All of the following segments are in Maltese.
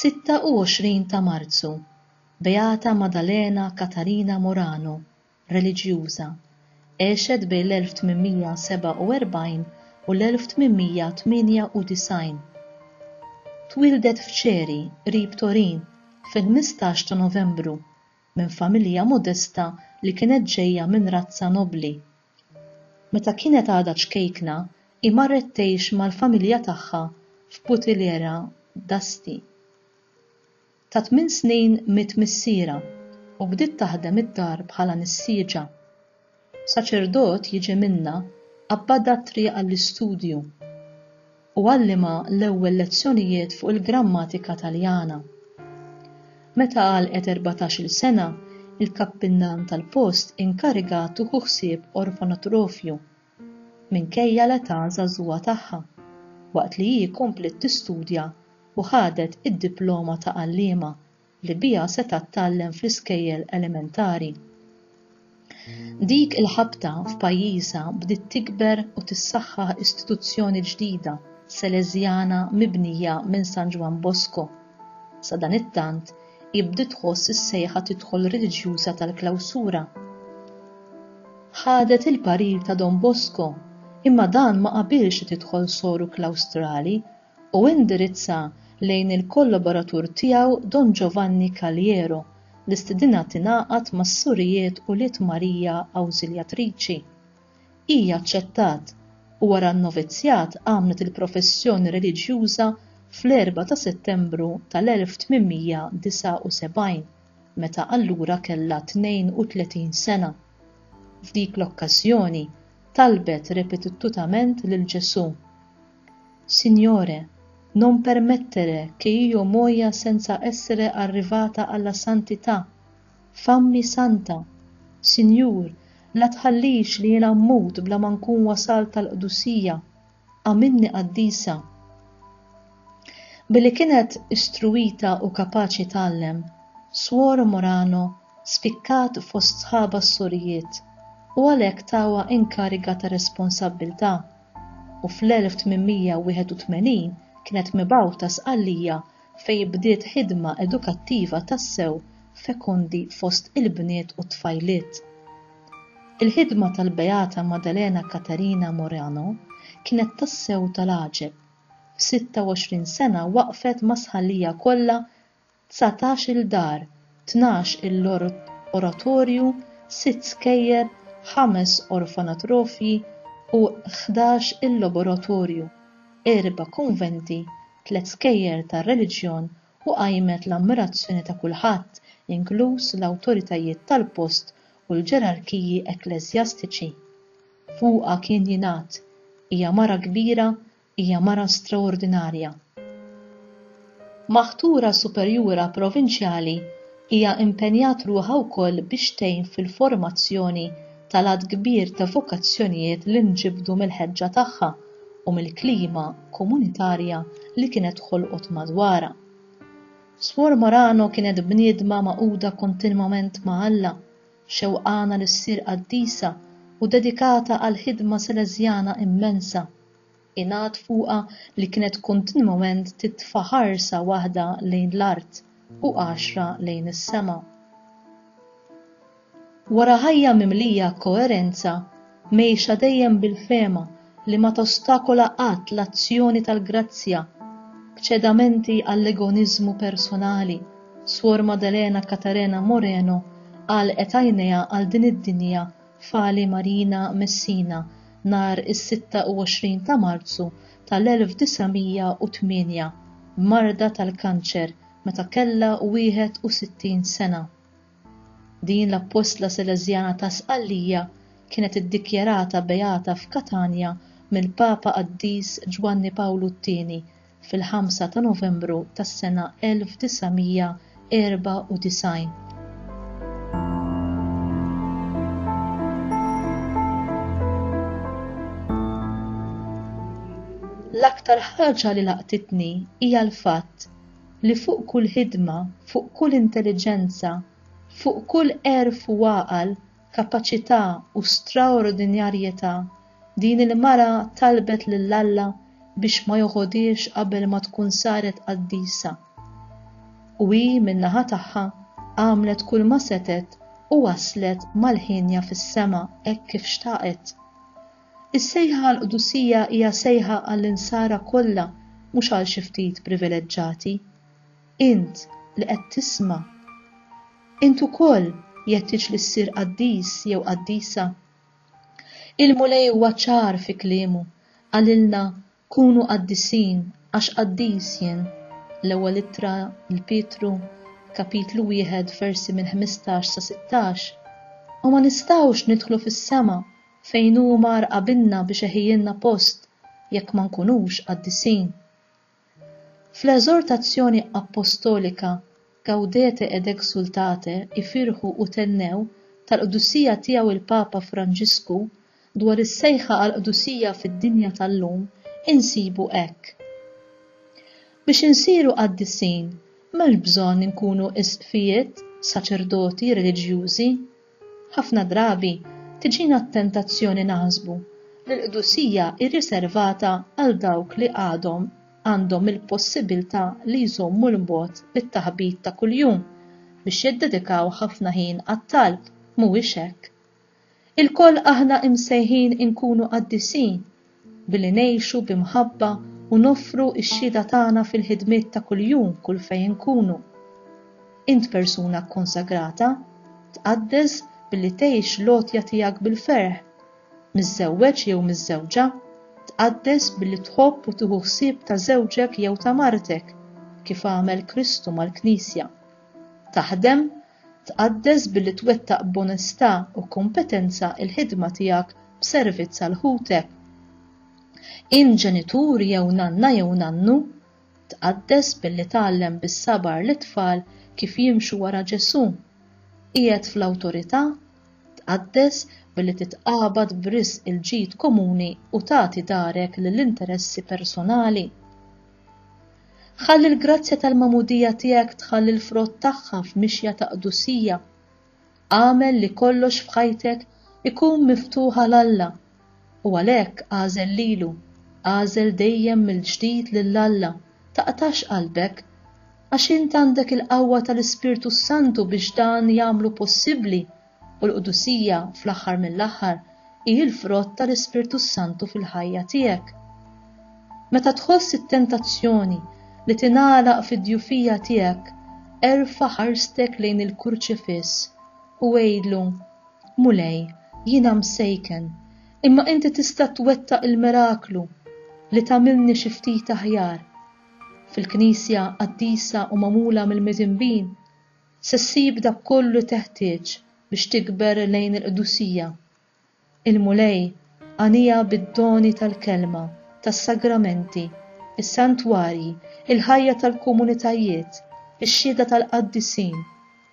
Sitta u għoxrin ta' Marzu, Beata Maddalena Katarina Morano, reliġjuża, għexet bejn l-1847 u l-1898. Twieldet f'Ċeri, qrib Torin, fil-ħmistax ta' Novembru, minn familja modesta li kienet ġejja minn razza nobbli. Meta kienet għadha ċkejkna, hi marret tgħix mal-familja tagħha f'Butillera d'Asti. Ta' tmien snin miet missierha u bdiet taħdem id-dar bħala nissieġa. Saċerdot jiġi minnha qabbadha t-triq għall-istudju u għallimha l-ewwel lezzjonijiet fuq il-grammatika Taljana. Meta għalqet erbatax-il sena, il-kappillan tal-post inkarigat tuħu ħsieb orfanatrofju. minkejja l-età żagħżugħa tagħha, waqt li hi kompliet tistudja u ħadet id-diploma ta' għalliema li biha setgħet tgħallem fl-iskejjel elementari. Dik il-ħabta f'pajjiżha bdiet tikber u tissaħħaħ istituzzjoni ġdida Seleżjana mibnija minn San Ġwann Bosco. Sadanittant, Hi bdiet tħoss is-sejħa tidħol reliġjuża tal-klawsura. Ħadet il-parir ta' Don Bosco, imma dan ma qabilx li tidħol soru klawstrali u indirizza lejn il-kollaboratur tiegħu Don Giovanni Caliero li stidinha tingħaqad mas-Surijiet Ulied Marija Awżiljatriċi. Hi aċċettat u wara n-novizzjat għamlet il-professjoni reliġjuża fl-4 ta' Settembru tal-1879, meta allura kellha 32 sena. F'dik l-okkażjoni talbet repetittutament lil Ġesù, Signore, non permettere che io muoia senza essere arrivata alla santità. F'Ammi Santa, Sinjur, la tħallix li jiena mmut bla ma nkun wasalt għall-qdusija, agħmilni qaddisa. Billi kienet istruwita u kapaċi tgħallem, Swor Morano spikkat fost sħabha s-sorijiet u għalhekk tawha inkariga ta' responsabbiltà, u fl-1881 kienet mibgħuta Sqallija fejn bdiet ħidma edukattiva tassew fekondi fost il-bniet u t-tfajliet. Il-ħidma tal-Beata Maddalena Catarina Morano kienet tassew tal-għaġeb, f'sitta u għoxrin sena waqqfet mas-Sħallija kollha dsatax-il dar tnax il-oratorju, sitt skejjel, ħames orfanatrofji u ħdax il-laboratorju, erba' kunventi, tliet skejjel tar-reliġjon u qajmet l-ammirazzjoni ta' kulħadd, inkluż l-awtoritajiet tal-post u l-ġerarkiji ekkleżjastiċi. Fuqha kien jingħad, Hija mara kbira Hija mara straordinarja. Maħtura superjura provinċjali, hija impenjat ruħha wkoll biex tgħin fil-formazzjoni tal-għadd kbir ta' vokazzjonijiet li nġibdu mill-ħeġġa tagħha u mill-klima komunitarja li kienet ħolqot madwarha. Swor Morano kienet bniedma magħquda kontinwament ma' Alla, xewqana li ssir qaddisa u dedikata għal ħidma Salesjana immensa. Ingħad fuqha li kienet kontinwament titfa' ħarsa waħda lejn l-art u għaxra lejn is-sema. Wara ħajja mimlija koerenza, mgħejxa dejjem bil-fehma li ma tostakola qatt l-azzjoni tal-grazzja, b'ċedamenti għall-egoniżmu personali, Suor Maddalena Catarena Moreno għalqet għajnejha għal din id-dinja f'Ali Marina, Messina, nhar is-26 ta' Marzu tal-1908 b'marda tal-kanċer meta kellha 61 sena. Din l-appostla Seleżjana ta' Sqallija kienet iddikjarata beata f'Katanja mill-Papa Qaddis Ġwanni Pawlu t-Tieni fil-5 ta' Novembru tas-sena 1994. L-aktar ħaġa li laqtitni hija l-fatt li fuq kull ħidma, fuq kull intelliġenza, fuq kull għerf u għaqal kapaċità u straordinjarjetà, din il-mara talbet lil Alla biex ma joħodhiex qabel ma tkun saret qaddisa. U hi min-naħa tagħha għamlet kulma setgħet u waslet mal-ħienja fis-sema hekk kif xtaqet. Is-sejħa għall-qdusija hija sejħa għall-insara kollha mhux għal xi ftit privileġġati. Int li qed tisma', int ukoll jeħtieġ li ssir qaddis jew qaddisa? Il-Mulej huwa ċar fi kliemu, qalilna kunu qaddisin għax qaddis jien, l-Ewwel Ittra 'l Pietru, kapitlu wieħed versi minn ħmistax sa sittax. U ma nistgħux nidħlu fis-sema fejn hu mar qabilna biex eħiilna post jekk ma nkunux qaddisin. Fl-eżortazzjoni appostolika Gaudete et exsultate, Ifirħu u thennew, tal-Qdusija Tiegħu l-Papa Franġisku, dwar is-sejħa għall-qdusija fid-dinja tal-lum, insibu hekk, Biex insiru qaddisin, m'hemmx bżonn inkunu isqfijiet, saċerdoti, reliġjużi, Ħafna drabi tiġina t-tentazzjoni naħsbu li l-qdusija hi riservata għal dawk li għadhom għandhom il-possibbiltà li jżommu l-mod bit-taħbit ta' kuljum biex jiddedikaw ħafna ħin għat-talb, mhuwiex hekk? Ilkoll aħna imsejħin inkunu qaddisin Billi ngħixu bi mħabba u noffru x-xhieda tagħna fil-ħidmiet ta' kuljum kull fejn inkunu. Int persuna kkonsagrata? Tqaddes billi tgħix l-għotja tiegħek bil-ferħ? Miżżewweġ jew miżżewġa? Tqaddes billi tħobb u tieħu ħsieb ta' żewġek jew ta' martek, kif għamel Kristu mal-Knisja. Taħdem, Tqaddes billi twettaq b'onestà u kompetenza l-ħidma tiegħek b'servizz għal ħutek. Int ġenitur jew nanna jew nannu? Tqaddes billi tgħallem bis-sabar lit-tfal kif jimxu wara Ġesù. Qiegħed fl-awtorità? Tqaddes billi titqabad b'risq il-ġid komuni u tagħti darek lill-interessi personali. Ħalli l-grazzja tal-magħmudija tiegħek tħalli l-frott tagħha f'mixja ta' qdusija. Agħmel li kollox f'ħajtek ikun miftuħ għal Alla, u għalhekk agħżel lilu, agħżel dejjem mill-ġdid lil Alla, taqtax qalbek, għax int għandek il-qawwa tal-Ispirtu s-Santu biex dan jagħmlu possibbli U l-qdusija, fl-aħħar mill-aħħar, hi l-frott tal-Ispirtu s-Santu fil-ħajja tiegħek. Meta tħoss it-tentazzjoni li tingħalaq fid-djufija tiegħek, erfa' ħarstek lejn il-Kurċifiss u għidlu, Mulej, jiena msejken, imma inti tista' twettaq il-miraklu li tagħmilni xi ftit aħjar. Fil-Knisja qaddisa u magħmula mill-midinbin, Se ssib dak kollu li teħtieġ biex tikber lejn il-qdusija. Il-Mulej għaniha bid-doni tal-Kelma, tas-Sagramenti, is-santwarji, il-ħajja tal-komunitajiet, ix-xhieda tal-qaddisin,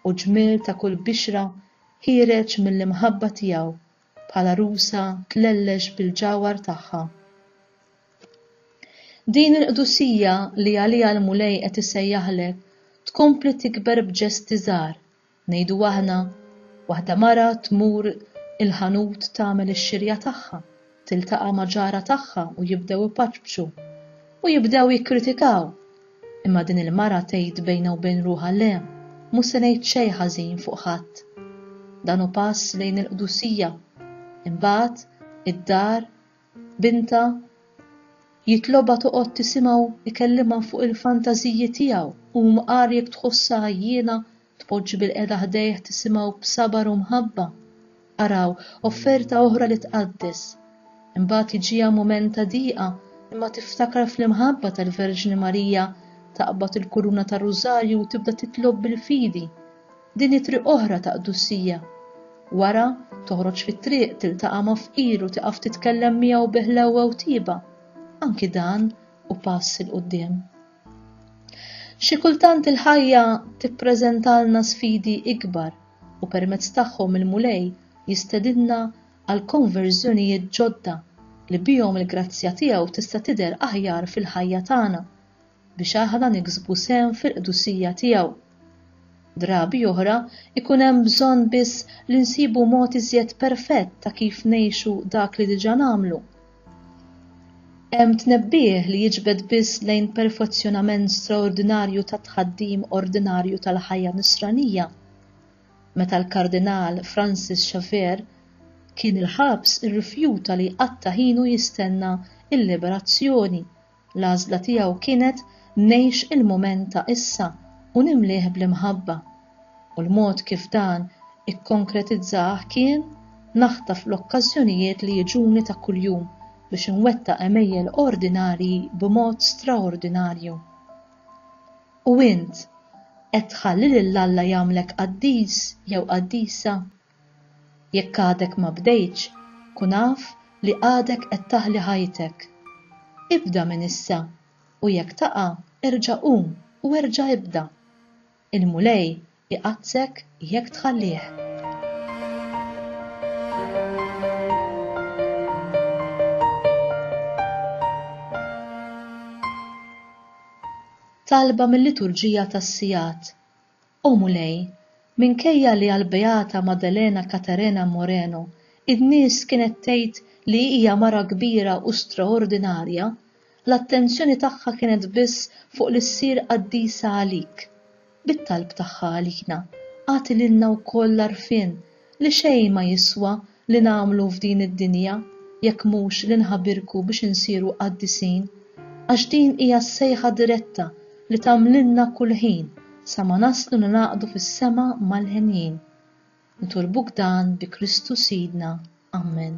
u ġmiel ta' kull bixra ħiereġ mill-imħabba tiegħu. bħala rusa tlellex bil-ġawhar tagħha. Din il-qdusija li għaliha l-Mulej qed isejjaħlek tkompli tikber b'ġesti żgħar, ngħidu aħna, waħda mara tmur il-ħanut tagħmel ix-xirja tagħha, tiltaqa' ma' ġarha tagħha u jibdew ipaċpċu u jibdew jikkritikaw Imma din il-mara tgħid bejnha u bejn ruħha le, mhux se ngħid xejn ħażin fuq ħadd. Dan hu pass lejn il-qdusija. Imbagħad, id-dar, bintha, jitlobha toqgħod tisimgħu jkellimha fuq il-fantażiji tiegħu u mqar jekk tħossha għajjiena Tpoġġi bilqiegħda ħdejh tisimgħu b'sabar u mħabba. Araw, offerta oħra li tqaddes. Imbagħad jiġiha mument ta' diqa, imma tiftakar fl-imħabba tal-Verġni Marija, taqbad il-kuruna tar-Rużarju u tibda titlob bil-fidi. Din hi triq oħra ta' qdussija. Wara, toħroġ fit-triq, tiltaqa' ma' fqir u tieqaf titkellem miegħu bi ħlewwa u tieba. Anki dan hu pass 'il quddiem. Xi kultant il-ħajja tippreżentalna sfidi ikbar u permezz tagħhom il-Mulej jistedinna għal konverżjonijiet ġodda li bihom il-grazzja tiegħu tista' tidher aħjar fil-ħajja tagħna biex aħna niksbu sehem fil-qdusija tiegħu. Drabi oħra jkun hemm bżonn biss li nsibu mod iżjed perfett ta' kif ngħixu dak li diġà nagħmlu. Hemm tnebbiħ li jiġbed biss lejn perfezzjonament straordinarju tat-tħaddim ordinarju tal-ħajja Nisranija. Meta l-Kardinal Francis Xavier kien il-ħabs irrifjuta li jqatta' ħinu jistenna l-liberazzjoni L-għażla tiegħu kienet ngħix il-mument ta' issa u nimlieh bl-imħabba, u l-mod kif dan ikkonkretizzah kien naħtaf l-okkażjonijiet li jiġuni ta' kuljum biex inwettaq għemejjel ordinarji b'mod straordinarju. U int, qed tħalli lil Alla jagħmlek qaddis jew qaddisa? Jekk għadek ma bdejtx, kun af li għadek qed taħli ħajtek. Ibda minn issa, u jekk taqa' erġa' qum u erġa' ibda. Il-Mulej iqaddssek jekk tħallih. Talba mil-Liturġija tas-Sigħat. O Mulej, minkejja li għall-Beata Maddalena Caterena Moreno n-nies kienet tgħid li hija mara kbira u straordinarja, l-attenzjoni tagħha kienet biss fuq li ssir qaddisa għalik. Bit-talb tagħha għalina, agħti lilna wkoll l-għarfien li xejn ma jiswa li nagħmlu f'din id-dinja jekk mhux li nħabirku biex insiru qaddisin, għax din hija s-sejħa diretta li tagħmlilna kull ħin sa ma naslu ningħaqdu fis-sema mal-henjin. Nitolbuk dan bi Kristu Sidna. Ammen.